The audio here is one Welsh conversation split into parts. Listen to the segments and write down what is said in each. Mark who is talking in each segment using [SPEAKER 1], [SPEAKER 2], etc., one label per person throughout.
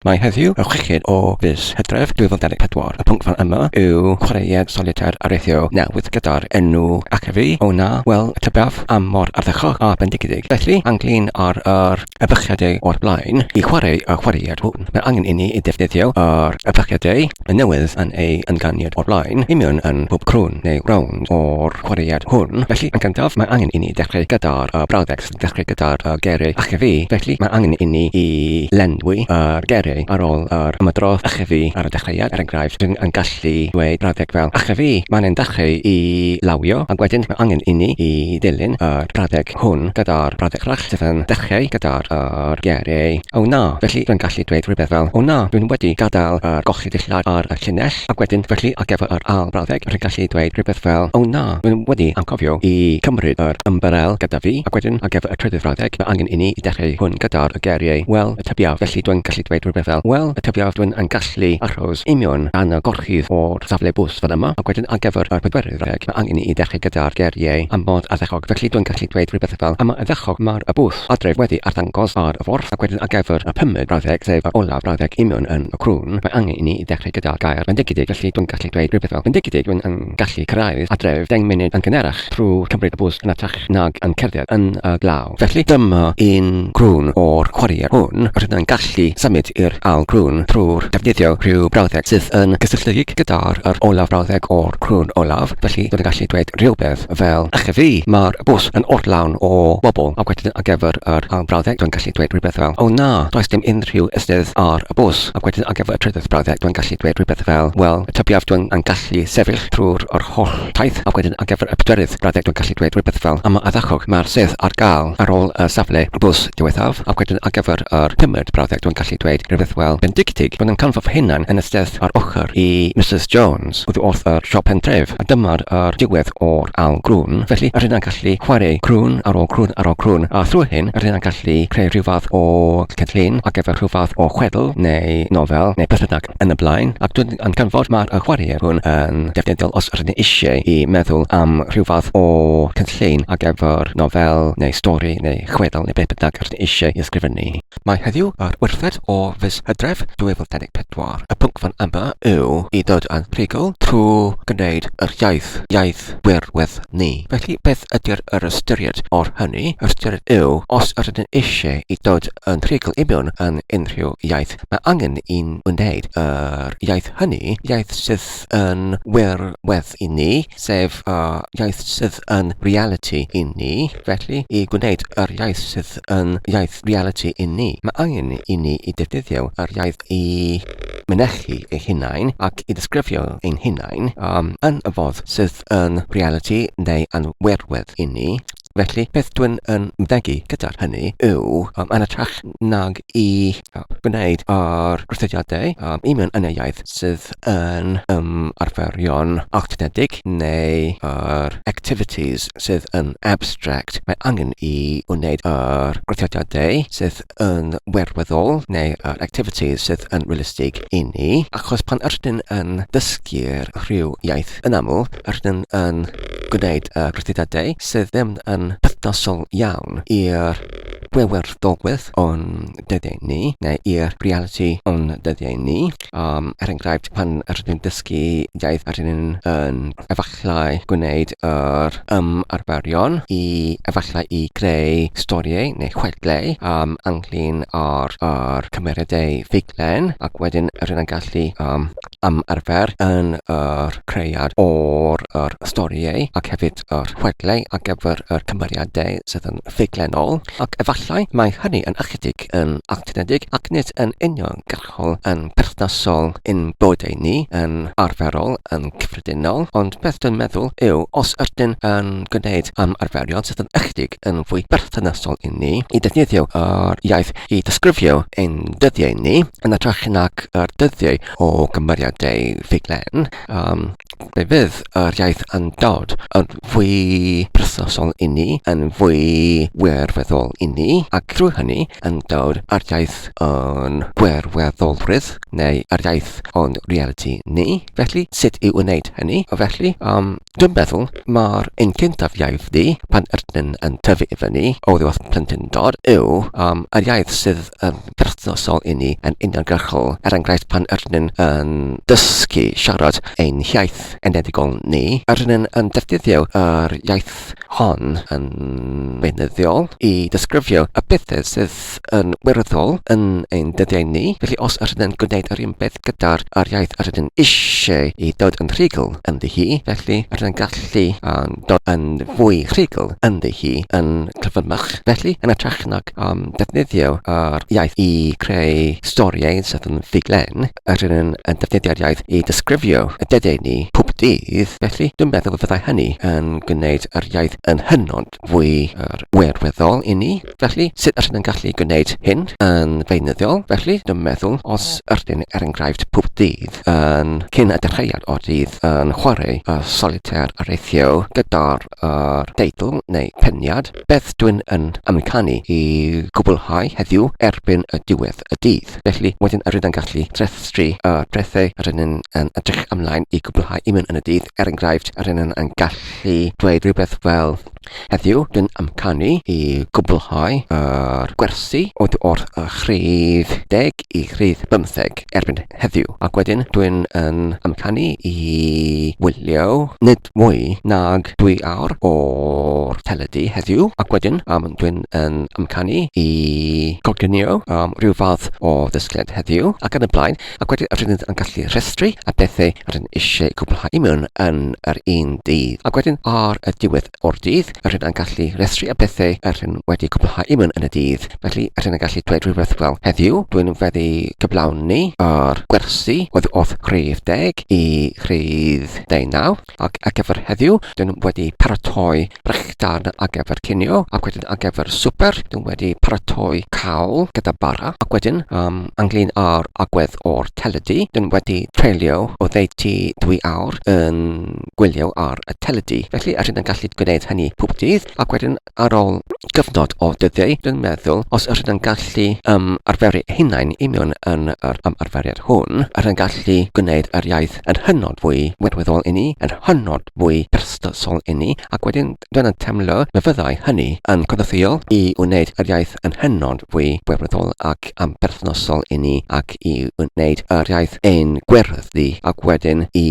[SPEAKER 1] Mae heddiw y chweched o fis Hydref 2024. Y pwnc fan yma yw chwaraead solitaire areithio newydd gyda'r enw Ac a fi, o na, wel, tybiaf am mor ardderchog a bendigedig. Felly, anghlin ar yr ebychiadau o'r blaen i chwarae y chwaraead hwn, mae angen inni i ddefnyddio yr ebychiadau y newydd yn ei ynganiad o'r blaen i mewn yn bob crwn neu rownd o'r chwaraead hwn. Felly, yn gyntaf, mae angen inni ddechrau gyda'r brawddeg. dechrau gyda'r uh, gyrru achebu, felly mae angen inni i lenwi yr gyrru ar ôl yr ymadrodd achebu ar y dechreuad. Er enghraifft, rydyn yn gallu dweud brawddeg fel achebu, mae'n ein dechrau i lawio, ac wedyn mae angen inni i ddilyn yr brawddeg hwn gyda'r brawddeg arall sydd yn dechrau gyda'r yr gyrru. O na! Felly rydyn gallu dweud rhywbeth fel, O na, rydyn wedi gadael yr y dulliau ar y llinell, ac wedyn felly ar gyfer yr ail frawddeg rwy'n gallu dweud rhywbeth fel 'O na, rwy'n wedi anghofio i cymryd yr ymbarel gyda fi', ac wedyn ar gyfer y trydydd frawddeg mae angen i ni i dechreu hwn gyda'r geiriau 'Wel, y tybiaf', felly dwy'n gallu dweud rhywbeth fel 'Wel, y tybiaf, dwy'n yn gallu achos i mewn gan y gorchudd o'r safle bws fel yma', ac wedyn ar gyfer yr pedwerydd frawddeg mae angen i ni i dechreu gyda'r geiriau 'Am fod addechog', felly dwy'n gallu dweud rhywbeth fel 'Am y addechog, mae'r y bws'. Pont Adref wedi arddangos ar y ffordd agweddus ar gyfer y pumed brawddeg sef yr olaf brawddeg union yn y crwn, mae angen i ni ddechrau gyda'r gair fendigedig felly dwi'n gallu dweud rhywbeth fel fendigedig rwy'n yn gallu cyrraedd adref deng munud yn gynharach trwy cymryd y bws yn hytrach nag yn cerdded yn y glaw felly dyma un crwn o'r chwarïau hwn, rydyn yn gallu symud i'r ail grwn trwy'r defnyddio rhyw brawddeg sydd yn gysylltiedig gyda'r yr olaf brawddeg o'r crwn olaf felly dwi'n gallu dweud rhywbeth. fel ych chi fi, mae'r bws yn oll lawn o bobl ac wedyn ar gyfer yr ail brawddeg dwi'n gallu dweud rhywbeth fel oh na, does dim unrhyw estydd ar y bws ac wedyn ar gyfer y trydydd brawddeg dwi'n gallu dweud rhywbeth fel wel tybiaf dwi'm yn gallu sefyll trwy'r yr holl taith ac wedyn ar gyfer y pedwerydd brawddeg dwi'n gallu dweud rhywbeth fel am y ardderchog mae'r sedd ar gael ar ôl y safle bws diwethaf ac wedyn ar gyfer yr pumed brawddeg dwi'n gallu dweud rhywbeth fel bendigedig, roedd yn canfod fy hunan yn y stedd ar ochr i Misus Jones. Jones oddi wrth y siop pentref, a dyma'r yr diwedd o'r ail grwn, felly yr hynna'n gallu chwareu crwn ar ôl crwn ar ôl crwn, a thrwy hyn yr hynna'n gallu creu rhyw fath o cynllun ar gyfer rhyw fath o chwedl neu nofel neu beth bynnag yn y blaen, ac dw i'n canfod mae'r y chwareuon hwn yn defnyddiol os yr hynny eisieu i meddwl am rhyw fath o cynllun ar gyfer nofel neu stori neu chwedl neu beth bynnag yr hynny eisieu i ysgrifennu. Mae heddiw yr wythfed o fis Hydref 2024. Y pwnc fan yma yw i ddod â'n rhugl trwy gwneud yr iaith, iaith wirwedd ni. Felly beth ydy'r yr ystyried o'r hynny? Yr ystyried yw, os ydyn ni eisiau i ddod yn rhugl i mewn yn unrhyw iaith, mae angen i ni wneud yr iaith hynny, iaith sydd yn wirwedd i ni, sef y iaith sydd yn realiti i ni, felly i gwneud yr iaith sydd yn iaith realiti i ni. Mae angen i ni i ddefnyddio yr iaith i mynychu ei hunain ac i ddisgrifio ein hunain yn y ffordd sydd yn realiti neu yn wirwedd i ni, felly beth dwi'n yn mynegi gyda'r hynny yw, yn hytrach nag i gwneud yr cysylltiadau i mewn yn y iaith sydd yn ymarferion awtomatig neu yr activities sydd yn abstract, mae angen i wneud yr gwrthodiadau sydd yn wirweddol neu yr activities sydd yn realistig i ni, achos pan ydyn yn dysgu rhyw iaith yn aml ydyn yn gwneud y gwrthodiadau sydd ddim yn perthnasol iawn i'r wirweddolwydd o'n dyddiau ni neu i'r realiti o'n dyddiau ni. Yym, er enghraifft, pan rydyn ni'n dysgu iaith rydyn ni'n yn efallai gwneud yr ymarferion i efallai i greu storïau neu chwedlau yym ynglŷn â'r â'r cymeriadau ffuglen ac wedyn rydyn ni'n gallu yym ymarfer yn yr creiad o'r yr storïau ac hefyd yr chwedlau ar gyfer yr cymeriadau sydd yn ffuglenol ac efallai mae hynny yn ychydig yn alltudedig ac nid yn union gall. ysgol yn berthnasol i'n bywydau ni yn arferol, yn gyffredinol, ond beth dwi'n meddwl yw os ydyn yn gwneud ymarferion sydd yn ychydig yn fwy berthnasol i ni, i ddefnyddio yr iaith i ddisgrifio ein dyddiau ni, yn ytrach nag yr dyddiau o gymeriadau ffuglen, Yym, fe fydd yr iaith yn dod yn fwy perthnasol i ni, yn fwy wirfoddol i ni, ac drwy hynny yn dod â'r iaith o'n gwirfoddolrwydd, neu yr iaith o'n realiti ni. Felly, sut i wneud hynny? Felly, yym, dwi'n meddwl mai'r un cyntaf iaith ni, pan ydyn yn tyfu i fyny, oddi wrth plentyndod, yw yym yr iaith sydd yn yn berthnasol i ni yn uniongyrchol, er enghraifft pan ydyn ni yn dysgu siarad ein hiaith enedigol ni, ydyn ni yn defnyddio yr iaith hon yn beunyddiol i ddisgrifio y pethau sydd yn wirioneddol yn ein dyddiau ni, felly os ydyn ni'n gwneud yr un peth gyda'r yr iaith yr ydyn ni eisiau i ddod yn rhugl ynddi hi, felly ydyn ni'n gallu dod yn fwy rhugl ynddi hi yn cyflymach, felly yn hytrach nag am ddefnyddio yr iaith i creu storïau sydd yn ddiglen, a rydyn yn yn defnyddio'r iaith i ddisgrifio y dedau ni pob dydd, felly dwi'n meddwl y fyddai hynny yn gwneud yr iaith yn hynod fwy yr wirweddol i ni. Felly, sut rydyn yn gallu gwneud hyn yn feunyddiol? Felly, dwi'n meddwl os rydyn er enghraifft pob dydd yn cyn y dechreuad o'r dydd yn chwarae y solitaire areithio gyda'r a'r teitl neu peniad Beth dwi'n yn amcanu i gwblhau heddiw erbyn y diwedd y dydd. Felly, wedyn yr ydyn gallu trefstru y pethau yr ydyn yn edrych ymlaen i gwblhau un yn y dydd, er enghraifft, yr ydyn yn gallu dweud rhywbeth fel Heddiw dwi'n amcanu i gwblhau yr gwersi oddi wrth y rhif deg i rhif bymtheg erbyn heddiw. Ac wedyn dwi'n yn amcanu i wylio nid mwy nag dwy awr o'r teledu heddiw ac wedyn um, dwi'n yn amcanu i goginio um, rhyw fath o ddysgleiad heddiw ac yn y blaen ac wedyn rydyn ni yn gallu rhestru a bethau rydyn eisiau cwblhau mewn yn yr un dydd ac wedyn ar y diwedd o'r dydd yr hyn a'n gallu rhestru a pethau yr hyn wedi cwblhau i mewn yn y dydd. Felly, yr hyn a'n gallu dweud rhywbeth fel heddiw, dwi'n feddu cyflawni o'r gwersi oedd wrth rhif deg i rhif deunaw, ac ar gyfer heddiw, dwi'n wedi paratoi brechdan ar gyfer cinio, ac wedyn ar gyfer swper, dwi'n wedi paratoi cawl gyda bara, ac wedyn, um, anglyn ar agwedd o'r teledu, dwi'n wedi treulio o ddeutu dwy awr yn gwylio ar y teledu, felly rydyn yn gallu gwneud hynny pob dydd, ac wedyn ar ôl cyfnod o dyddiau, dwi'n meddwl, os rydyn yn gallu um, arferu hunain i mewn yn yr ymarferiad hwn, rydyn yn gallu gwneud yr iaith yn hynod fwy wirweddol i ni, yn hynod fwy perthnosol i ni, ac wedyn dwi'n yn teimlo na fyddai hynny yn cynorthwyo i wneud yr iaith yn hynod fwy wirweddol ac am perthnosol i ni ac i wneud yr iaith ein gwerthu ac wedyn i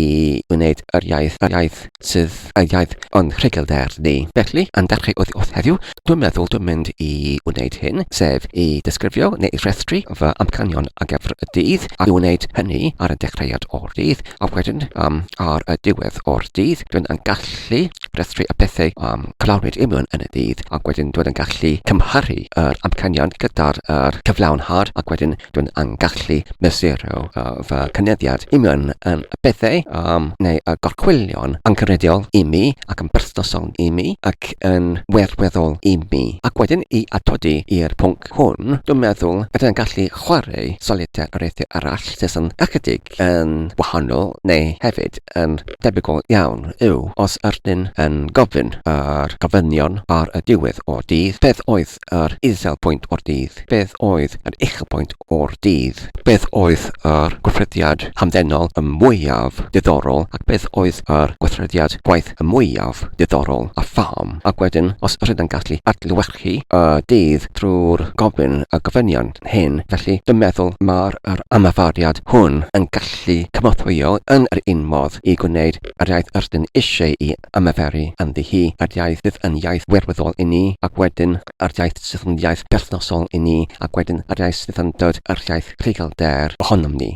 [SPEAKER 1] wneud yr iaith yr iaith sydd yr iaith o'n rhugylder ni. Felly, yn dechrau oddi wrth heddiw, dwi'n meddwl dwi'n mynd i wneud hyn, sef i ddisgrifio neu i rhestru fy amcanion ar gyfer y dydd, a i wneud hynny ar y dechreuad o'r dydd, A wedyn um, ar y diwedd o'r dydd, dwi'n yn gallu rhestru y pethau um, clawrid i mewn yn y dydd, ac wedyn dwi'n yn gallu cymharu yr amcanion gyda'r er cyflawnhad, ac wedyn dwi'n yn gallu mesuro uh, fy cynyddiad i mewn yn y pethau um, neu y gorchwylion angenrheidiol i mi ac yn berthnasol i mi ac yn werweddol i mi. Ac wedyn i atodi i'r pwnc hwn, dwi'n meddwl ydyn yn gallu chwarae solitaire ar eithaf arall sydd yn ychydig Cymraeg yn wahanol neu hefyd yn debygol iawn yw os ydyn yn gofyn yr gofynion ar y diwedd o'r dydd, beth oedd yr uchelpwynt o'r dydd, beth oedd yr uchelpwynt o'r dydd, beth oedd yr gweithrediad hamddenol y mwyaf diddorol ac beth oedd yr gweithrediad gwaith y mwyaf diddorol a pham ac wedyn os ydyn yn gallu adlewyrchu chi a dydd trwy'r gofyn y gofynion hyn, felly dwi'n meddwl mai'r yr ymarferiad hwn yn gallu cynorthwyo yn yr un modd i gwneud yr iaith rydyn eisieu'i ymarferu ynddi hi, yr iaith sydd yn iaith wirwyddol i ni, ac wedyn yr iaith sydd yn iaith berthnasol i ni, ac wedyn yr iaith sydd yn dod yr iaith rhugl-der ohonom ni.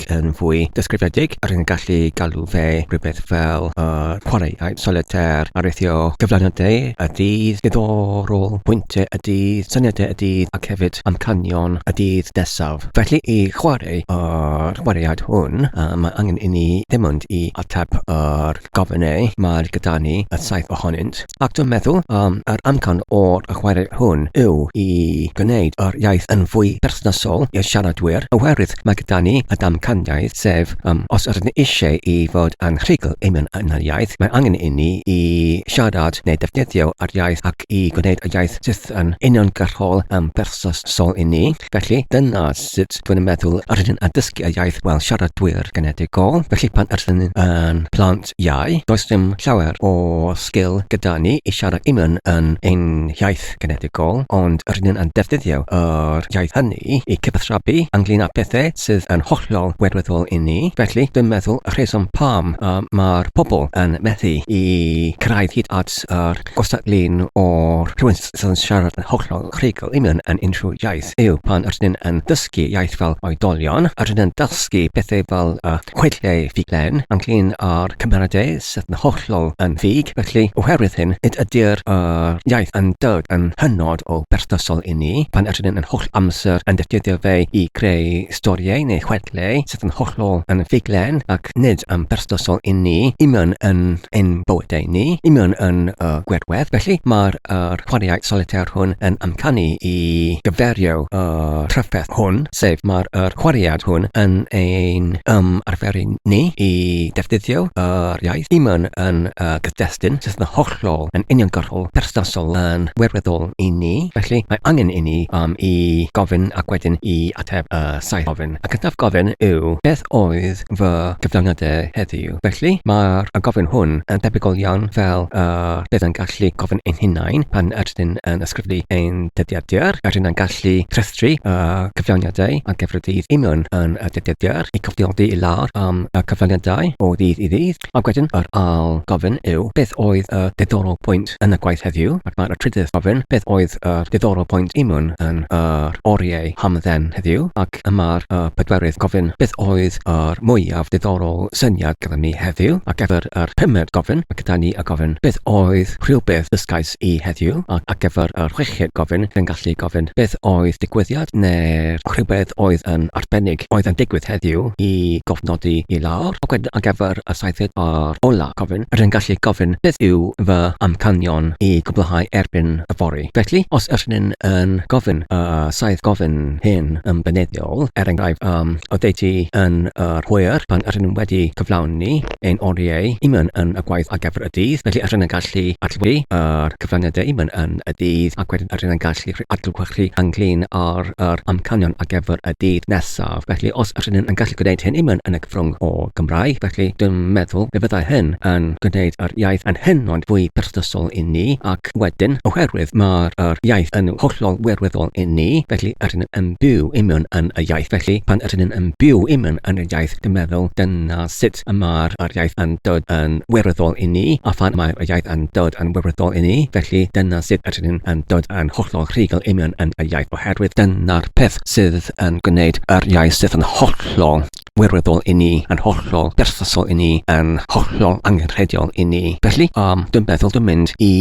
[SPEAKER 1] beic yn fwy disgrifiedig, rwy'n gallu galw fe rhywbeth fel y chwaraeai solitaire ar ritio cyflafniadau y dydd, diddorol, pwyntiau y dydd, syniadau y dydd ac hefyd amcanion y dydd nesaf. Felly, i chwarae y chwaraead hwn, mae angen i ni ddim ond i ateb yr gofyn eu mae gyda ni y saith ohonynt, ac dwi'n meddwl am yr amcan o'r chwarae hwn yw i gwneud yr iaith yn fwy perthnasol i'r siaradwyr, oherwydd mae gyda ni y damcaniaeth, sef yym os ydyn ni eisiau i fod yn rhugl i mewn yn yr iaith, mae angen i ni i siarad neu defnyddio yr iaith ac i gwneud y iaith sydd yn uniongyrchol yn perthnasol i ni. Felly, dyna sut dwi'n meddwl yr ydyn yn dysgu y iaith fel siaradwyr genedigol. Felly, pan yr ydyn yn plant iau, does dim llawer o sgil gyda ni i siarad union yn ein hiaith genedigol, ond yr ydyn yn defnyddio yr iaith hynny i cyfathrebu ynglŷn â phethau sydd yn hollol wirfoddol i ni. Felly, dwi'n meddwl y rheswm pam y mae'r pobl yn methu i cyrraedd hyd at yr gystadleu'n oer rhwystr, sy'n siarad yn hollol rhugl i mewn yn unrhyw iaith yw pan rydyn yn dysgu iaith fel oedolion, rydyn yn dysgu pethau fel y chwedlau ffuglen ynglŷn â'r cymeradau sydd yn hollol yn ffug, felly oherwydd hyn nid ydy'r yr iaith yn dod yn hynod o berthnasol i ni pan rydyn yn holl amser yn defnyddio fe i greu storïau neu chwedlau sydd yn hollol anffuglen ac nid yn berthnasol i ni, i mewn yn ein bywydau ni, i mewn yn y gwirwedd. Felly, mae'r yr chwaraeau solitaire hwn yn amcanu i gyferio y trafferth hwn, sef mae'r yr chwaraead hwn yn ein ymarferu ni i ddefnyddio yr iaith, i mewn yn y gyd-destun sydd yn hollol clo yn uniongyrchol berthnasol yn wirioneddol i ni, felly mae angen inni am i gofyn ac wedyn i ateb y saith gofyn. Y cyntaf gofyn yw, beth oedd fy cyflawniadau heddiw? Felly, mae'r gofyn hwn yn debygol iawn fel y bydd yn gallu gofyn ein hunain pan ydyn ni'n ysgrifennu ein dyddiadur. Yr hyn a'n gallu rhestru y cyflawniadau a gefnodir union yn y dyddiadur, i cofnodi i lawr am y cyflawniadau o ddydd i ddydd, Ac wedyn yr ail gofyn yw, beth oedd y diddorol pwynt yn y gwaith heddiw? Ac mae'r trydydd gofyn, beth oedd y diddorol pwynt i Mwn yn yr oriau hamdden heddiw? Ac yma'r y pedwerydd gofyn, beth oedd yr mwyaf diddorol syniad gyda ni heddiw? Ac efo'r yr pumed gofyn, mae gyda ni y gofyn, beth oedd rhywbeth ddysgais At i heddiw, ac ar gyfer yr chweched gofyn, fe'n gallu gofyn beth oedd digwyddiad neu'r rhywbeth oedd yn arbennig oedd yn digwydd heddiw i gofnodi i lawr, ac wedyn ar gyfer y saethfed a'r olaf gofyn, rydyn gallu gofyn beth yw fy amcanion i gwblhau erbyn yfory. Felly, os ydyn yn gofyn y saith gofyn hyn yn beneddol, er enghraifft, yym, oddeutu yn yr hwyr pan ydyn nhw wedi cyflawni, ein oriau i mewn yn y gwaith ar gyfer y dydd, felly yr hyn yn gallu adlewyrchu yr cyfraniadau i mewn yn y dydd ac wedyn yr hyn yn gallu rhoi adlewyrchu ynglŷn â'r yr amcanion ar gyfer y dydd nesaf. Felly, os yr hynny yn gallu gwneud hyn i mewn yn y cyfrwng o Gymraeg, felly dwi'n meddwl fe fyddai hyn yn gwneud yr iaith yn hynod fwy perthnasol i ni ac wedyn, oherwydd mae'r yr iaith yn hollol wirwyddol i ni, felly yr hyn yn byw i mewn yn y iaith, felly pan yr hyn yn byw i mewn yn y iaith dwi'n meddwl dyna sut y mae'r yr iaith yn dod yn wirfoddol i ni, a phan mae'r yr iaith yn dod yn wirfoddol i ni, felly dyna sut ydyn ni'n yn dod yn hollol rhugl i mewn yn y iaith, oherwydd dyna'r peth sydd yn gwneud yr iaith sydd yn hollol wirfoddol i ni, yn hollol berthnasol i ni, yn hollol angenrheidiol i ni. Felly, yym, dwi'n meddwl dwi'n mynd i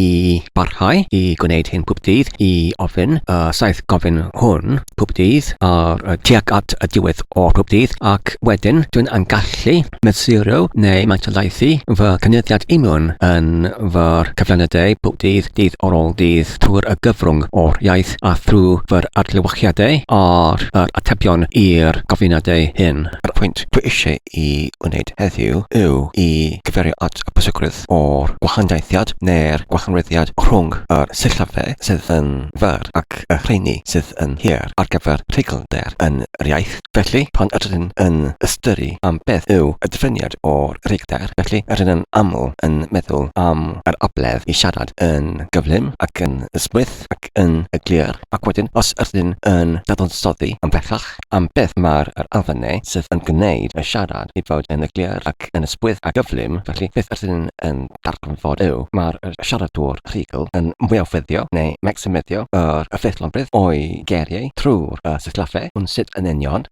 [SPEAKER 1] barhau i gwneud hyn pob dydd, i ofyn y saith gofyn hwn. pob dydd ar y tuag at y diwedd o pob dydd ac wedyn dwi'n yn gallu mesurio neu mantalaethu fy cynyddiad union yn fy cyflynydau pob dydd, dydd ar ôl dydd trwy'r y gyfrwng o'r iaith a thrwy fy'r adlewyrchiadau ar yr atebion i'r gofyniadau hyn. Yr pwynt dwi eisiau i wneud heddiw yw i gyfeirio at y pwysigrwydd ddod o'r gwahaniaethiad neu'r gwahaniaethiad rhwng y sillafiau sydd yn fyr ac y rheini sydd yn hir ar gyfer rheiglder yn yr iaith. Felly, pan ydyn ni'n yn ystyru am beth yw y diffiniad o rheiglder, felly ydyn yn aml yn meddwl am yr abledd i siarad yn gyflym ac yn ysmwyth ac yn glir, ac wedyn os ydyn ni'n yn dadansoddi ymhellach, am beth mae'r yr addune sydd yn gwneud y siarad i fod yn eglur ac yn ysgwydd a gyflym, felly beth ydyn yn darganfod yw, mae'r yr siaradwr rhugl yn mwyafweddio neu maximeddio yr y ffeithlonrwydd o'i geiriau trwy'r y sillafe, ond sut yn union?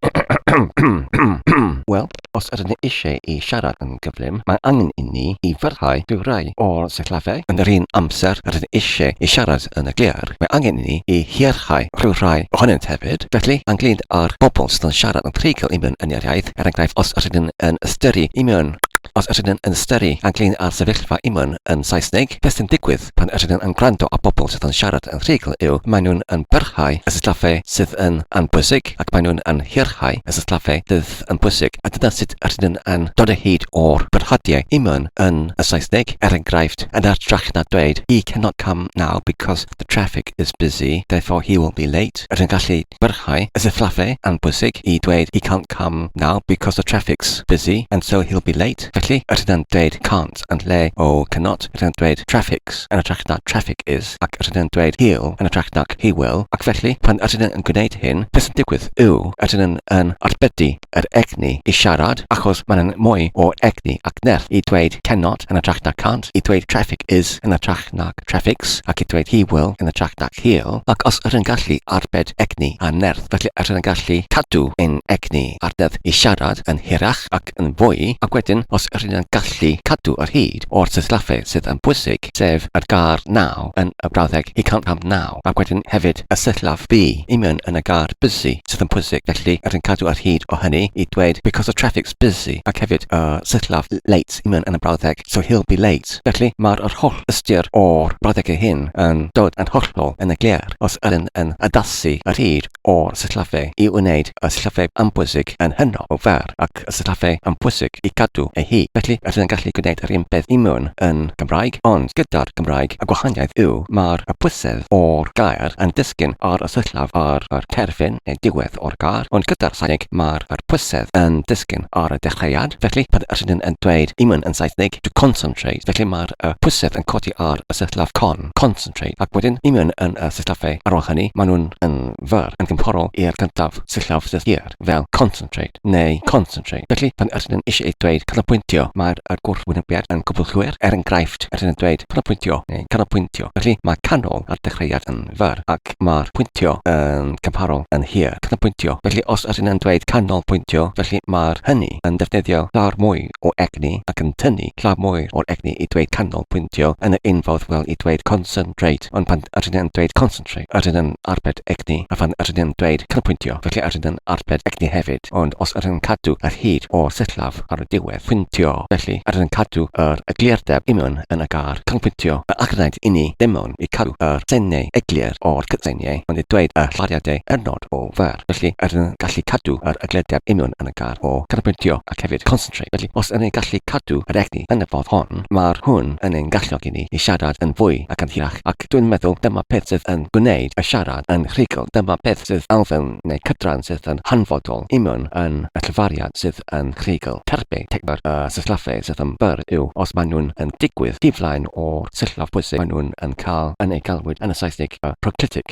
[SPEAKER 1] Wel, Os ydyn ni eisiau i siarad yn gyflym, mae angen inni i fyrhau drwy rai o'r sillafiau. Yn yr un amser rydyn ni eisiau i siarad yn glir, mae angen inni i hierchau rhyw rai ohonynt hefyd. Felly, ynglŷn â'r bobl sydd yn siarad yn treigl i mewn yn yr iaith, er enghraifft, os rydyn ni yn ystyru i mewn, os rydyn ni yn ystyru ynglŷn â'r sefyllfa i mewn yn Saesneg, beth sy'n digwydd? Ond pan yr ydyn yn gwrando ar bobl sydd yn siarad yn rhugl yw maen nhw'n yn byrhau y sillafe sydd yn anbwysig ac maen nhw'n yn hyrhau y sillafe fydd yn bwysig a dyna sut yr ydyn yn dod o hyd o'r byrhadiau i mewn yn y Saesneg, er enghraifft, yn hytrach na dweud He cannot come now because the traffic is busy, therefore he will be late, yr ydyn gallu byrhau y sillafe anbwysig i dweud He can't come now because the traffic's busy and so he'll be late, felly yr ydyn dweud can't. yn lle o cannot rydyn yn dweud traffics yn ytrach na traffic is ac rydyn yn dweud he'll yn ytrach nag he will ac felly pan ydyn yn gwneud hyn beth sy'n digwydd yw ydyn yn yn arbedi yr egni i siarad achos mae'n yn mwy o egni ac nerth i dweud cannot yn ytrach na can't i dweud traffic is yn ytrach nag traffics ac i dweud he will yn ytrach nag he'll ac os ydyn yn gallu arbed egni a nerth felly ydyn yn gallu cadw ein egni a'r nerth i siarad yn hirach ac ac yn fwy, ac wedyn os ry'n ni'n gallu cadw ar hyd o'r sillafe sydd yn bwysig, sef yr gair 'now' yn y brawddeg 'he can't come now', ac wedyn hefyd y sillaf 'be' i mewn yn y gair 'busy' sydd yn bwysig, felly ry'n cadw ar hyd o hynny i dweud 'because the traffic's busy', ac hefyd y sillaf 'late' i mewn yn y brawddeg 'so he'll be late'. Felly, mae'r yr holl ystyr o'r brawddegau hyn yn dod yn hollol yn eglur os ry'n yn addasu ar hyd o'r sillafe i wneud y sillafe ambwysig yn hynod o fer ac y sillafe ambwysig i gadw ei hi. Felly, rydyn yn gallu gwneud yr un peth i mewn yn Gymraeg, ond gyda'r Gymraeg y gwahaniaeth yw mae'r ambwysedd o'r gair yn disgyn ar y sillaf ar yr terfyn neu diwedd o'r gair, ond gyda'r Saesneg mae'r ambwysedd yn disgyn ar y dechreuad. Felly, pan rydyn yn dweud i mewn yn Saesneg, to concentrate, felly mae'r ambwysedd yn codi ar y sillaf con. concentrate, ac wedyn i mewn yn y sillafe. Ar ôl hynny, maen nhw'n yn fyr yn gymhorol i'r cyntaf sillaf sydd hir, fel concentrate neu concentrate. Felly, pan ydyn nhw'n eisiau dweud canolbwyntio, mae'r y gwrthwynebiad yn cwbl llwyr. Er enghraifft, ydyn nhw'n dweud canolpwyntio neu canolpwyntio. Felly, mae canol ar dechreuad yn fyr, ac mae'r pwyntio yn gymharol yn hir. Canolpwyntio. Felly, os ydyn yn dweud canolpwyntio, felly mae'r hynny yn defnyddio llawer mwy o egni ac yn tynnu llaw mwy o'r egni i dweud canol pwyntio yn y unffordd fel i dweud concentrate ond pan ydyn yn dweud concentrate ydyn yn arbed egni a phan ydyn yn dweud canolpwyntio felly ydyn yn arbed egni hefyd ond os ydyn yn cadw yr hyd o'r sillaf ar y diwedd pwyntio felly ydyn yn cadw yr eglurdeb imewn yn y gair canolpwyntio a allgwnaed inni ddimewn i cadw yr seiniau eglur o'r cydseiniau ond i dweud y llariadau hynod o fer felly ydyn yn gallu cadw yr eglurdeb imewn yn y gair fath o ganolbwyntio ac hefyd concentrate, felly os yn ein gallu cadw yr egni yn y ffordd hon, mae'r hwn yn ein galluogi ni i siarad yn fwy ac yn hirach ac dwi'n meddwl dyma peth sydd yn gwneud y siarad yn rhugl, dyma peth sydd elfen neu cydran sydd yn hanfodol imiwn yn y llefariad sydd yn rhugl. Terbyn teimlad y sillafe sydd yn bur yw os maen nhw'n yn digwydd tu flaen o'r sillaf pwysig maen nhw'n yn cael yn eu galwyd yn y Saesneg y proclitic,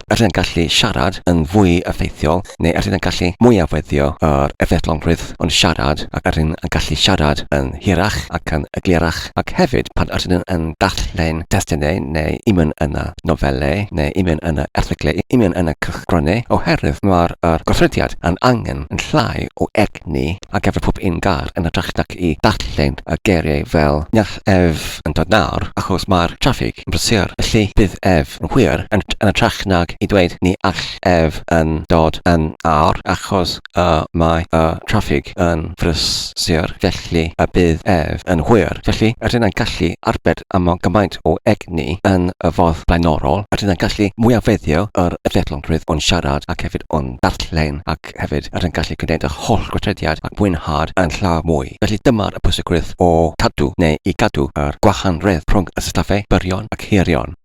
[SPEAKER 1] a rydyn yn gallu siarad yn fwy effeithiol neu a rydyn yn gallu mwyafweddio yr effeithlonrwydd o'n siarad ac a rydyn yn gallu siarad yn hirach ac yn eglurach ac hefyd pan a rydyn yn darllen testunau neu imyn yn y nofelau neu imyn yn y erthyglau imyn yn y cylchgronau oherwydd mae'r yr gweithrediad yn angen yn llai o egni ar gyfer pob un car yn hytrach nac i ddarllen y geiriau fel Naill ef yn dod nawr achos mae'r traffig yn brysur felly bydd ef yn hwyr yn hytrach nag i ddweud Ni all ef yn dod yn awr achos y mae y traffig yn frysur felly y bydd ef yn hwyr. Felly, rydyn yn gallu arbed am mor gymaint o egni yn y ffordd blaenorol, rydyn yn gallu mwyafeddio yr effeithlonrwydd o'n siarad ac hefyd o'n darllen ac ac hefyd yr hyn gallu gwneud yr holl gweithrediad a mwynhad yn llawer mwy. Felly dyma'r y pwysigrwydd o cadw neu i gadw yr gwahannrwydd rhwng y syllabau byrion ac hirion.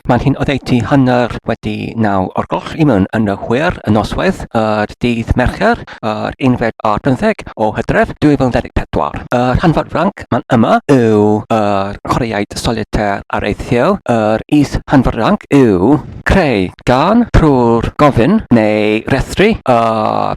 [SPEAKER 1] Mae'n hyn oddeutu hanner wedi naw o'r gloch i mewn yn y hwyr y noswaith yr dydd Mercher yr unfed ar bymtheg o Hydref 2024. Y rhan fawr franc mae'n yma yw yr chwaraeaid solitaire areithiol, yr is rhan fawr ranc yw creu gân trwy'r gofyn neu rhestru y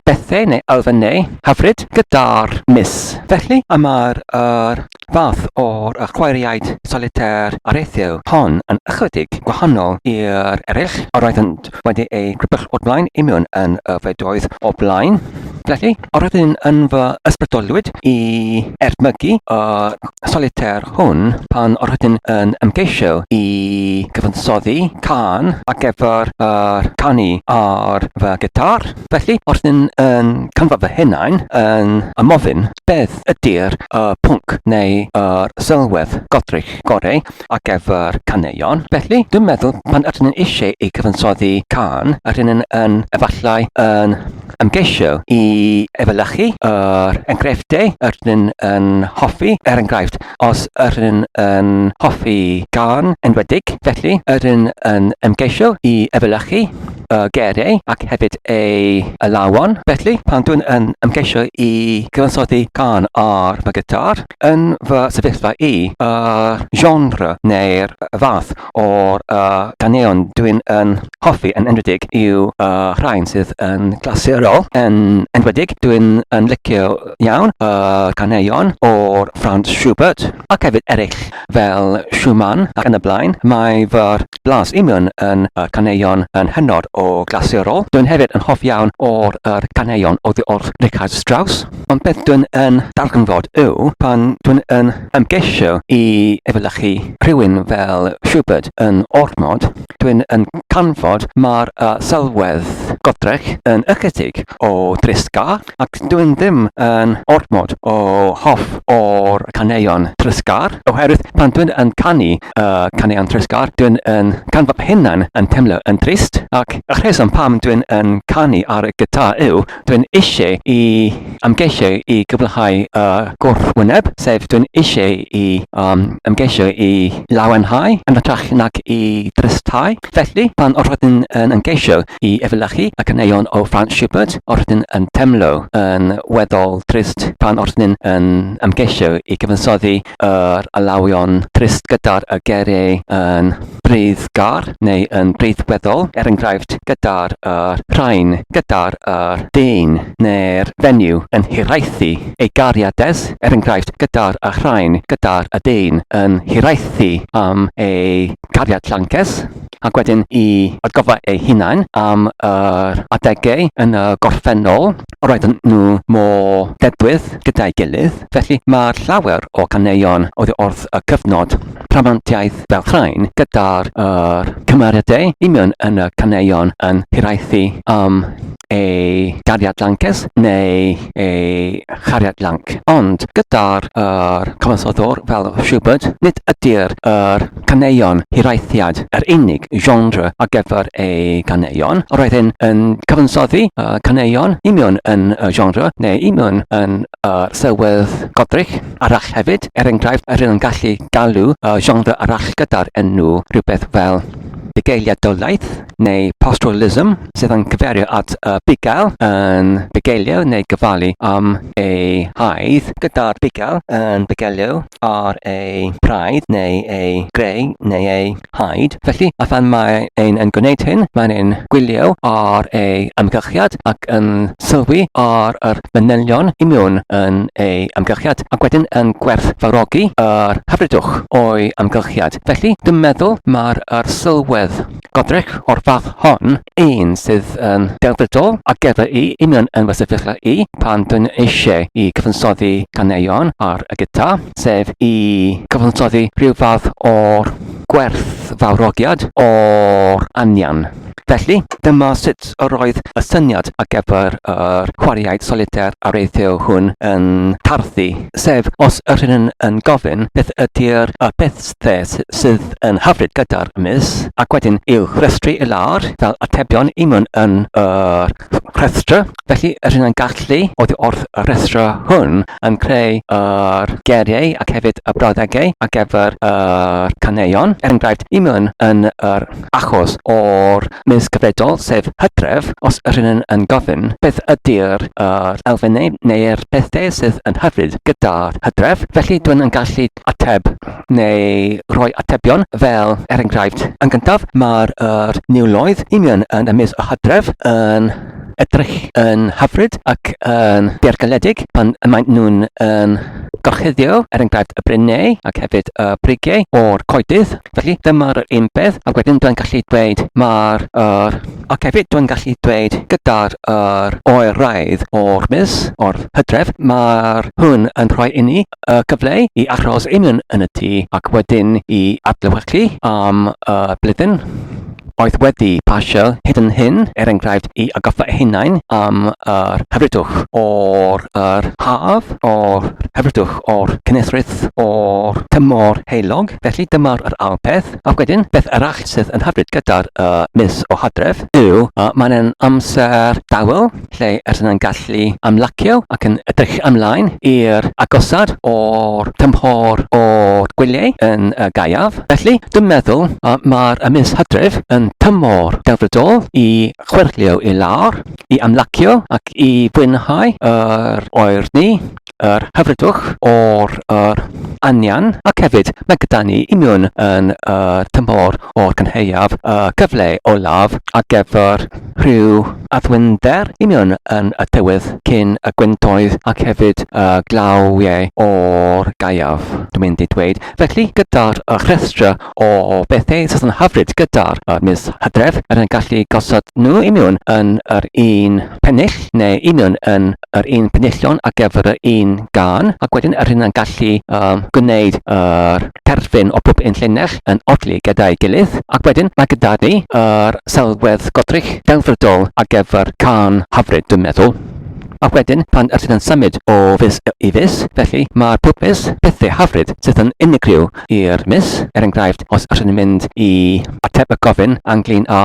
[SPEAKER 1] bethau neu elfennau hyfryd gyda'r mis. Felly, mae'r yr fath o'r y chwaraeaid solitaire areithiol hon yn ychydig gwahanol i'r eraill yr oeddent wedi eu crybwyll o'r blaen i mewn yn y fedroedd o'r blaen. Felly, o'r oedd un yn fy ysbrydolwyd i ertmygu y solitair hwn pan o'r oedd yn ymgeisio i gyfansoddi can a gefyr yr canu ar fy gitar. Felly, o'r oedd yn canfa fy hunain yn ymofyn beth ydy'r y pwnc neu yr sylwedd godrych gorau a gefyr caneuon. Felly, dwi'n meddwl pan ydyn yn eisiau i gyfansoddi can, yr hyn yn efallai yn ymgeisio i efelychu yr enghreifftiau yr ydyn yn hoffi, er enghraifft, os yr ydyn yn hoffi gân enwedig, felly yr ydyn yn ymgeisio i efelychu y geiriau ac hefyd ei alawon. Felly, pan dwi'n yn ymgeisio i gyfansoddi gân ar fy gitar, yn fy sefyllfa i, y genre neu'r fath o'r uh, ganeuon dwi'n yn hoffi yn enwedig yw uh, rhain sydd yn glasurol yn enwedig. Dwi'n yn licio iawn y uh, caneuon o'r Franz Schubert ac hefyd eraill fel Schumann ac yn y blaen. Mae fy blas imion yn uh, caneuon yn hynod o glasurol. Dwi'n hefyd yn hoff iawn o'r uh, caneuon o ddiolch Richard Strauss. Ond beth dwi'n yn darganfod yw pan dwi'n yn yn gesio i efelychu rhywun fel Schubert yn ormod, dwi'n yn canfod mae'r uh, sylwedd godrech yn ychydig o drisga ac dwi'n ddim yn ormod o hoff o'r caneuon trysgar oherwydd pan dwi'n yn canu uh, caneuon trysgar dwi'n yn canfod hynna'n yn teimlo yn drist ac y rheswm pam dwi'n yn canu ar y gyda yw Dwi'n eisiau i ymgeisio i gyflehau y gwrthwyneb, sef dwi'n eisiau i ymgeisio i lawenhau yn hytrach nag i drysthau. Felly, pan yr ydyn yn ymgeisio i efelychu y caneuon o Franz Schubert, yr ydyn yn teimlo yn weddol drist pan yr ydyn yn ymgeisio i gyfansoddi yr alawion trist gyda'r y geriau yn breiddgar neu yn breiddweddol, er enghraifft, gyda'r yr, rhain, gyda'r yr, dyn, neu'r fenyw, yn hiraethu ei gariades, er enghraifft, gyda'r y rhain, gyda'r y dyn, yn hiraethu am ei gariad llancus, ac wedyn i atgoffa eu hunain am yr adegau yn y gorffennol Roedden nhw mor dedwydd gyda'i gilydd, felly mae llawer o ganeuon oddi wrth y cyfnod rhamantiaeth fel rhain gyda'r yr cymeriadau i mewn yn y caneuon yn hiraethu am ei gariad lances neu ei chariad lanc. Ond gyda'r yr cyfansoddwr fel Schubert, nid ydy'r yr caneuon hiraethiad, yr unig genre ar gyfer ei ganeuon, yr oedd hyn yn cyfansoddi y caneuon i mewn yn y genre neu i mewn yn y sylwedd godrig arall hefyd, er enghraifft, yr yn gallu galw y genre arall gyda'r enw rhywbeth fel bugeiliadolaeth neu pastoralism, sydd yn cyferio at y bugail yn bugeilio neu gofalu am ei haidd, gyda'r bugail yn bugeilio ar ei braidd neu ei greu neu ei haid. Felly, a phan mae ein yn gwneud hyn, mae'n ein gwylio ar ei amgylchiad ac yn sylwi ar yr manylion i mewn yn ei amgylchiad ac wedyn yn gwerthfawrogi yr hyfrydwch o'i amgylchiad. Felly, dwi'n meddwl mai'r arsylwedd Godre'r o'r fath hon, un sydd yn delfrydol ar gyfer i union yn fy sefyllfa i pan dwi'n eisiau i gyfansoddi ganeuon ar y gita, sef i gyfansoddi rhyw fath o'r gwerthfawrogiad o'r anian. Felly, dyma sut yr oedd y syniad ar gyfer yr chwaraeaid solitaire areithiol hwn yn tarddu, sef os yr hyn yn gofyn beth ydy'r y peth Fe sydd yn hyfryd gyda'r mis, ac wedyn i'w rhestru i lawr fel atebion i mewn yn y rhestr. Felly, yr hyn yn gallu oddi wrth y rhestr hwn yn creu yr geriau ac hefyd y brawddegau ar gyfer y caneuon. Er enghraifft, i mewn yn yr achos o'r mis gyfredol, sef hydref, os yr hyn yn gofyn beth ydy'r elfennau neu'r pethau sydd yn hyfryd gyda'r hydref, felly dwi'n yn gallu ateb neu rhoi atebion fel, er enghraifft, yn gyntaf, mae'r er niwloedd union yn ymysg y hydref yn edrych yn hyfryd ac yn deirgyledig pan y maen nhw'n yn gorchuddio, er enghraifft, y bryneu ac hefyd y brigeu o'r coedydd. Felly, dyma'r yr un peth, ac wedyn dwi'n gallu dweud mae'r yr... Ac hefyd dwi'n gallu dweud gyda'r yr oeraidd o'r mis, o'r hydref, mae'r hwn yn rhoi inni y cyfle i aros yn yn, yn y tŷ ac wedyn i adlewyrchu am y blwyddyn oedd wedi pasio hyd yn hyn, er enghraifft, i agoffa hunain am yr hyfrydwch o'r yr haf, o'r hyfrydwch o'r cynesrwydd o'r tymor heilog. Felly dyma'r yr ail peth. A wedyn, beth arall sydd yn hyfryd gyda'r uh, mis o hadref yw uh, mae'n amser dawel, lle yr hynna'n gallu ymlacio ac yn edrych ymlaen i'r agosad o'r tymhor o'r gwyliau yn y gaeaf. Felly, dwi'n meddwl uh, mae'r mis hydref yn tymor delfrydol i chwerthlio i lawr, i ymlacio ac i fwynhau yr oer ni yr hyfrydwch, o'r yr anian, ac hefyd mae gyda ni union yn y tymor o'r cynheuaf y cyfle olaf ar gyfer rhyw addwynder union yn y tywydd cyn y gwentoedd ac hefyd y glawiau o'r gaeaf, dwi'n mynd i dweud. Felly, gyda'r rhestr o bethau sydd yn hyfryd gyda'r mis hydref, rydyn ni'n gallu gosod nhw union yn yr un pennill neu union yn yr un penillion ar gyfer yr un gan, ac wedyn yr hynna'n gallu um, gwneud yr terfyn o bob un llinell yn odli gyda'i gilydd, ac wedyn mae gyda ni yr sylwedd godrych delfrydol ar gyfer can hyfryd, dwi'n meddwl. A wedyn, pan yr sydd yn symud o fus i fus, felly mae'r pob mis pethau hyfryd sydd yn unigryw i'r mis, er enghraifft, os yr sy'n mynd i ateb y gofyn anglyn â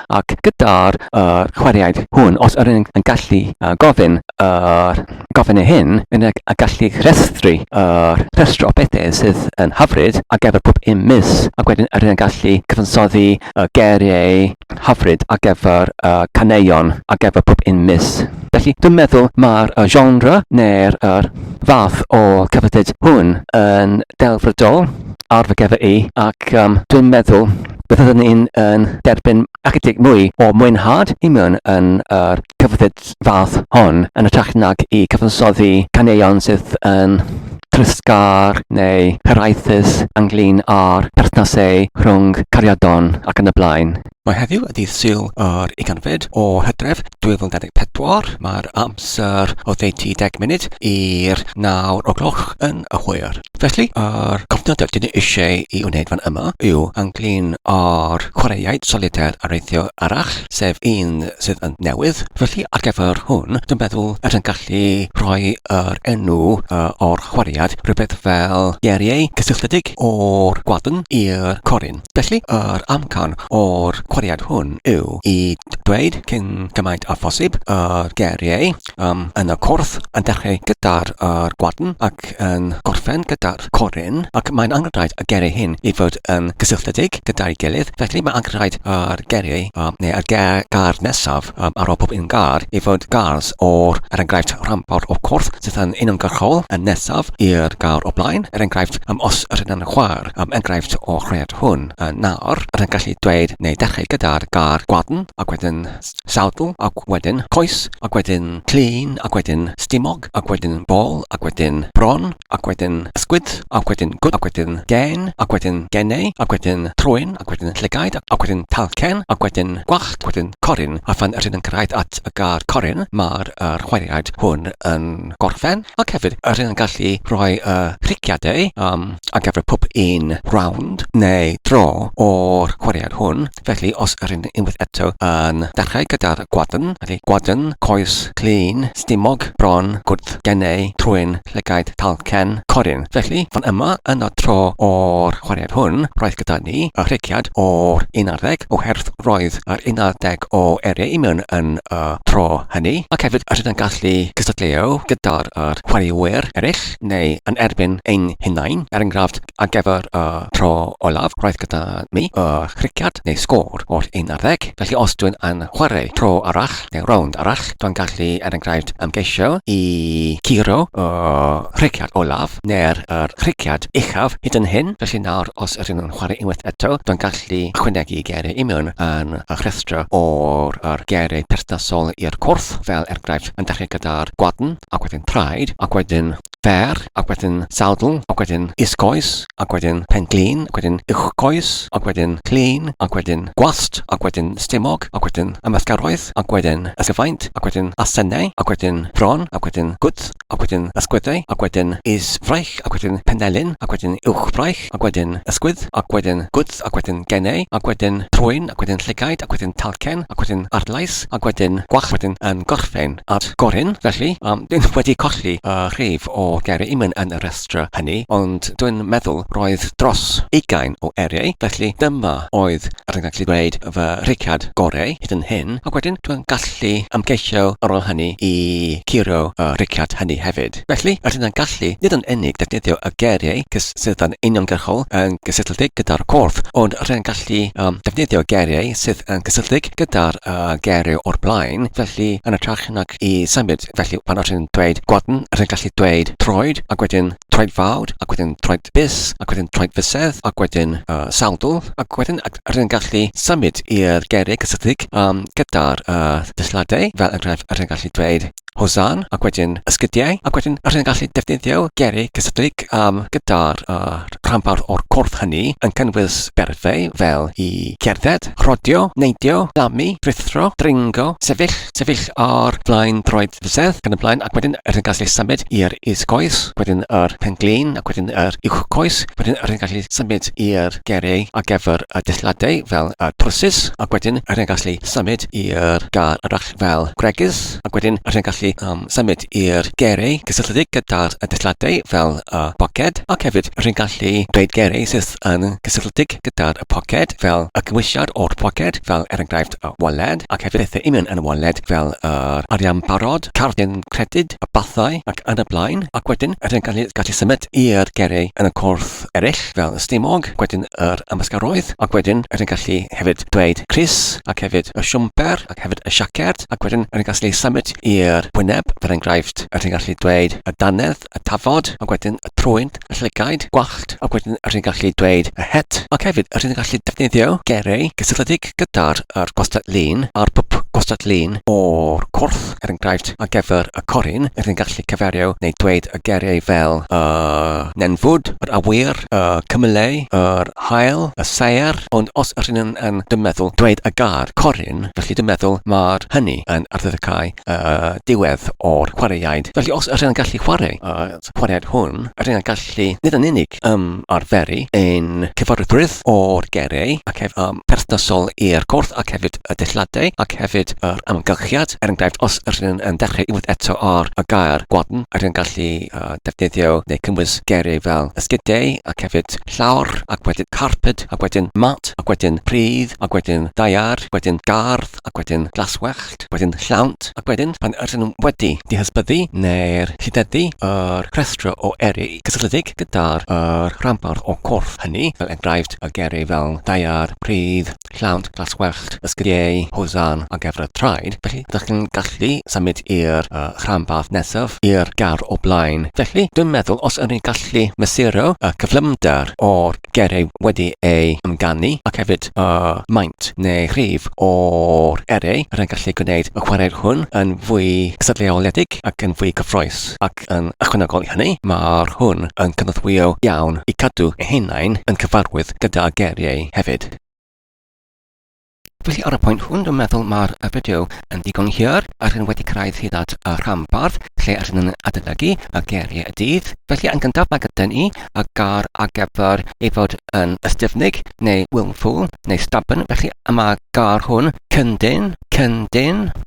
[SPEAKER 1] ac gyda'r yr chwaraeaid hwn, os yr yn gallu gofyn yr gofynnau hyn, yn y gallu rhestru yr rhestr o bethau sydd yn hyfryd ar gyfer pob un mis, ac wedyn yr yn gallu cyfansoddi y geiriau hyfryd ar gyfer y caneuon ar gyfer pob un mis. Felly, dwi'n meddwl mae'r genre neu'r yr fath o cyfathred hwn yn delfrydol ar fy gefr i, ac um, dwi'n meddwl byddwn ni'n yn derbyn ychydig mwy o mwynhad i mewn yn yr cyfrif fath hon yn ytrach nag i cyfansoddi caneuon sydd yn trysgar neu hiraethus ynglyn â'r perthnasau rhwng cariadon ac yn y blaen. Mae heddiw y dydd Sul yr ugain fed o Hydref 2024, mae'r amser oddeutu 10 munud i'r nawr o gloch yn y hwyr. Felly, yr cofnod yr ydyn ni eisiau i wneud fan yma yw anglyn o'r chwaraeaid solitaire areithio arall, sef un sydd yn newydd. Felly, ar gyfer hwn, dwi'n meddwl yr yn gallu rhoi yr enw o'r chwaraead, rhywbeth fel Guerrier, cysylltiedig o'r gwadn i'r corun. Felly, yr amcan o'r cwriad hwn yw i dweud cyn gymaint â phosib y geiriau um, yn y cwrdd, yn dechrau gyda'r er gwadn ac yn gorffen gyda'r corin, ac mae'n angenrhaid y geiriau hyn i fod yn gysylltiedig gyda'i gilydd, felly mae angenrhaid yr geiriau um, neu y gair nesaf Am aro pob un gar i fod gars o'r, er enghraifft, rhanbarth o'r corff sydd yn uniongyrchol, yn nesaf i'r gar o blaen, er enghraifft, am os yr hyn yn chwaer, am enghraifft o'r chwedl hwn, y nar, yr yn gallu dweud neu ddechrau gyda'r gar gwadn, ac wedyn sawdl, ac wedyn coes, ac wedyn clun, ac wedyn stumog. black ac wedyn ball ac wedyn bron ac wedyn ysgwyd ac wedyn gwd ac wedyn gên ac wedyn geneu ac wedyn trwyn ac wedyn llygaid ac wedyn talcen ac wedyn gwallt ac wedyn corun a phan rydyn yn cyrraedd at y gair corun mae'r yr chwaraead hwn yn gorffen ac hefyd rydyn yn gallu rhoi y rhiciadau yym ar gyfer pob un rownd neu draw o'r chwaraead hwn. Felly os yr hyn unwaith eto yn dechrau gyda'r gwadn, felly gwadn, coes, clun, stumog, bron, gwddf, genau, trwyn, llygaid, talcen, corun. Felly, fan yma, yn y tro o'r chwaraead hwn, roedd gyda ni y rhegiad o'r unarddeg, oherwydd roedd yr unarddeg o eiriau i mewn yn y tro hynny, ac hefyd yr hyn yn gallu cystadleuo gyda'r chwaraewyr eraill, neu yn erbyn ein hunain, er enghraifft, Ar gyfer y tro olaf roedd gyda ni y chrigiad neu sgôr oll 11, felly os dwi'n yn chwarae tro arall neu rownd arall, dwi'n gallu er enghraifft ymgeisio i guro y chrigiad olaf neu'r yr chrigiad uchaf hyd yn hyn, felly nawr os ydyn nhw'n chwarae unwaith eto, dwi'n gallu ychwanegu geiriau i mewn yn y rhestr o'r yr geiriau perthnasol i'r cwrs, fel er enghraifft yn dechrau gyda'r gwadn ac wedyn traed ac wedyn fer, ac wedyn sawdl, ac wedyn is-goes, ac wedyn pen-glin, ac wedyn uwch-goes, ac wedyn clean, ac wedyn gwallt, ac wedyn stumog, ac wedyn ymysgaroedd, ac wedyn ysgyfaint, ac wedyn asennau, ac wedyn bron, ac wedyn gwddf, ac wedyn ysgwyddau, ac wedyn is-fraich, ac wedyn penelin, ac wedyn uwch-fraich, ac wedyn ysgwydd, ac wedyn gwddf, ac wedyn genau, ac wedyn trwyn, ac wedyn llygaid, ac wedyn talcen, ac wedyn arglais, ac wedyn gwallt, wedyn yn gorffen at gorun. Felly, dw i wedi colli rhif o geiriau Eamon yn y rhestr hynny, ond dw i'n meddwl roedd dros ugain o eiriau, felly dyma oedd, er yn gallu dweud, fy rhiciad gorau hyd yn hyn, ac wedyn dw i'n gallu ymgeisio ar ôl hynny i curio y rhiciad hynny hefyd. Cymraeg. Felly, yr hyn a'n gallu, nid yn unig defnyddio y geiriau cysyllt'n uniongyrchol yn gysylltiedig gyda'r corff, ond rhaid gallu um, defnyddio geiriau sydd yn gysylltiedig gyda'r uh, geiriau o'r blaen, felly yn ytrach nag i symud, felly pan yr hyn dweud gwadn, yr hyn gallu dweud troed, ac wedyn troed fawd, ac wedyn troed bus, ac wedyn troed fusedd, ac wedyn uh, sawdl, ac wedyn yr hyn gallu symud i'r geiriau cysylltiedig um, gyda'r uh, dysladau, fel enghraifft yr hyn gallu dweud Hosan, ac wedyn Ysgidiau, ac wedyn rydyn yn gallu defnyddio gerrig cysylltiedig am gyda'r rhanbarth o'r corff hynny yn cynnwys berfau fel i gerdded, rhodio, neidio, llamu, rhuthro, dringo, sefyll, sefyll ar flaen droed fysedd, ac yn y blaen, ac wedyn rydyn yn gallu symud i'r is-goes, wedyn yr pen-glin, ac wedyn yr uwch-goes, wedyn rydyn yn gallu symud i'r gerrig ar gyfer y dillladau fel y trwsus, ac wedyn rydyn yn gallu symud i'r gar arall. fel gwregys ac wedyn rwy'n gallu um, symud i'r gerei cysylltiedig gyda'r dilladiau fel y boced ac hefyd rwy'n gallu dweud gerei sydd yn gysylltiedig gyda'r poced fel y cymwysiad o'r poced fel er enghraifft y waled ac hefyd pethau union yn y waled fel yr arian barod, cardyn credyd, y bathau ac yn y blaen ac wedyn rwy'n gallu, gallu symud i'r gerei yn y cwrdd eraill fel y stumog, wedyn yr ymysgaroedd ac wedyn rwy'n gallu hefyd dweud Chris ac hefyd y siwmper ac hefyd y siaced, ac wedyn yn gallu symud i'r wyneb, fel enghraifft, rydyn ni'n gallu dweud y dannedd, y tafod, ac wedyn y trwyn, y llygaid, gwallt, ac wedyn rydyn ni'n gallu dweud y het, ac hefyd rydyn ni'n gallu defnyddio geiriau cysylltiedig gyda'r yr gwastad lun a'r pwp gwastad lun o'r cwrdd, er enghraifft, ar gyfer y corun, rydyn ni'n gallu cyferio neu dweud y geiriau fel y nenfwd, yr awyr, y cymylau, yr Hael y saer ond os ydyn nhw yn dy meddwl dweud y gair corun felly dy meddwl mae'r hynny yn arddyddiau y diwedd o'r chwaraeaid felly os ydyn nhw'n gallu chwarae y chwaraeaid hwn ydyn nhw'n gallu nid yn unig ymarferu ein cyfarwyddrwydd o'r geiriau ac hefyd yn perthnasol i'r corff ac hefyd y deilliadau ac hefyd yr amgylchiad er enghraifft os ydyn nhw'n yn dechrau unwaith eto ar y gair gwadn ydyn nhw'n gallu defnyddio neu cynnwys geiriau fel ysgydau ac hefyd Llawr, ac wedyn carped, ac wedyn mat, ac wedyn pridd, ac wedyn daear, wedyn gardd, ac wedyn glaswellt, wedyn llawnt, ac wedyn, pan ydyn nhw wedi dihysbyddu neu'r llideddu yr rhestr o eri cysylltiedig gyda'r rhanbarth o'r corff hynny, fel enghraifft, y geri fel daear, pridd, Llawnt glas wellt y sgrieu Hozan a gefr y traed, felly dych chi'n gallu symud i'r uh, rhanbarth nesaf, i'r gar o blaen. Felly, dwi'n meddwl os ydyn ni'n gallu mesuro y uh, cyflymder o'r gereu wedi ei ymganu ac hefyd y uh, maint neu rhif o'r ereu, rydyn ni'n gallu gwneud y chwarae hwn yn fwy cysadleoledig ac yn fwy cyffroes. Ac ac yn ychwanegol i hynny, mae'r hwn yn cynorthwyo iawn i cadw eu hunain yn cyfarwydd gyda geiriau hefyd. Felly ar y pwynt hwn, dwi'n meddwl mae'r fideo yn ddigon hir a rydyn wedi cyrraedd hyd at y rhanbarth lle rydyn yn adolygu y geiriau y dydd. Felly yn gyntaf mae gyda ni y gair ar gyfer ei fod yn ystyfnig neu willful neu stubborn, felly y mae gair hwn cyndyn, cyndyn,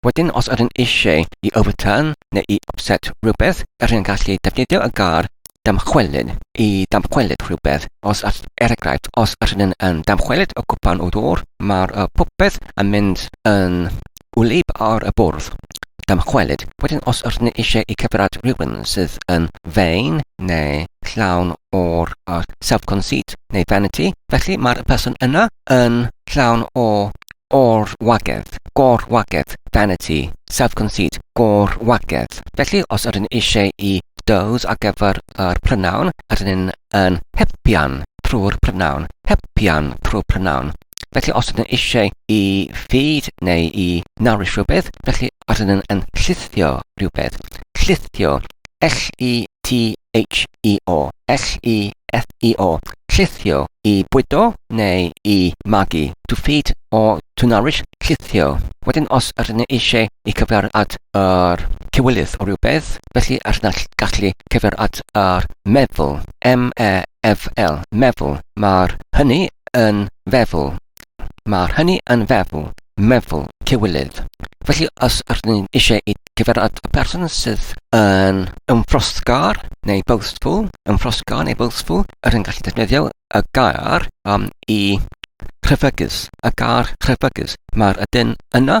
[SPEAKER 1] Wedyn os ydyn eisiau i Overturn neu i Offset rhywbeth, yr yn gallu defnyddio y gair damchwelyd i damchwelyd rhywbeth. Os all, er enghraifft, os ydyn yn damchwelyd y cwpan o ddŵr, mae'r y popeth yn mynd yn wlyb ar y bwrdd. Damchwelyd. Wedyn os ydyn eisiau i cyfrad rhywun sydd yn vain neu llawn o'r y self-conceit neu vanity, felly mae'r person yna yn llawn o Gor-wagedd, gor-wagedd, vanity, self-conceit, gor-wagedd. Felly, os ydyn ni eisiau i does ar gyfer yr prynawn, ydyn ni'n yn hybian trwy'r prynawn, hybian trwy'r prynawn. Felly, os ydyn ni eisiau i fyd neu i nawr i rhywbeth, felly ydyn ni'n yn llithio rhywbeth, llithio L-E-T-H-E-O, L-E-F-E-O, llithio, i bwydo neu i magu, to feed or to nourish, llithio. Wedyn os yr ni eisiau i cyfeirio at yr cywilydd o rywbeth, felly yr na gallu cyfeirio at yr meddwl, M-E-F-L, meddwl, mae'r hynny yn feddwl. Mae hynny yn feddwl, meddwl, cywilydd. Felly os ydyn ni eisiau i cyfeiriad y person sydd yn ymffrosgar neu boastful, ymffrosgar neu boastful, yr hyn gallu defnyddio y gair um, i rhyfygus, y gair rhyfygus. Mae'r ydyn yna,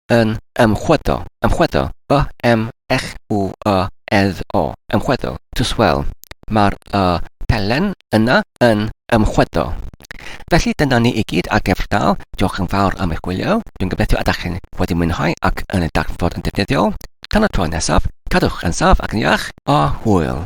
[SPEAKER 1] yn ymchwyddo, ymchwyddo, y, m, ech, u, y, edd, o, ymchwyddo, to swell. Mae'r y pelen yna yn ymchwyddo. Felly dyna ni i gyd ar Gefr Dal. Diolch yn fawr am eich gwylio. Dwi'n gobeithio ydych chi'n wedi mwynhau ac yn y darnfod yn defnyddiol. Tan y tro nesaf, cadwch yn saf ac yn iach, a hwyl!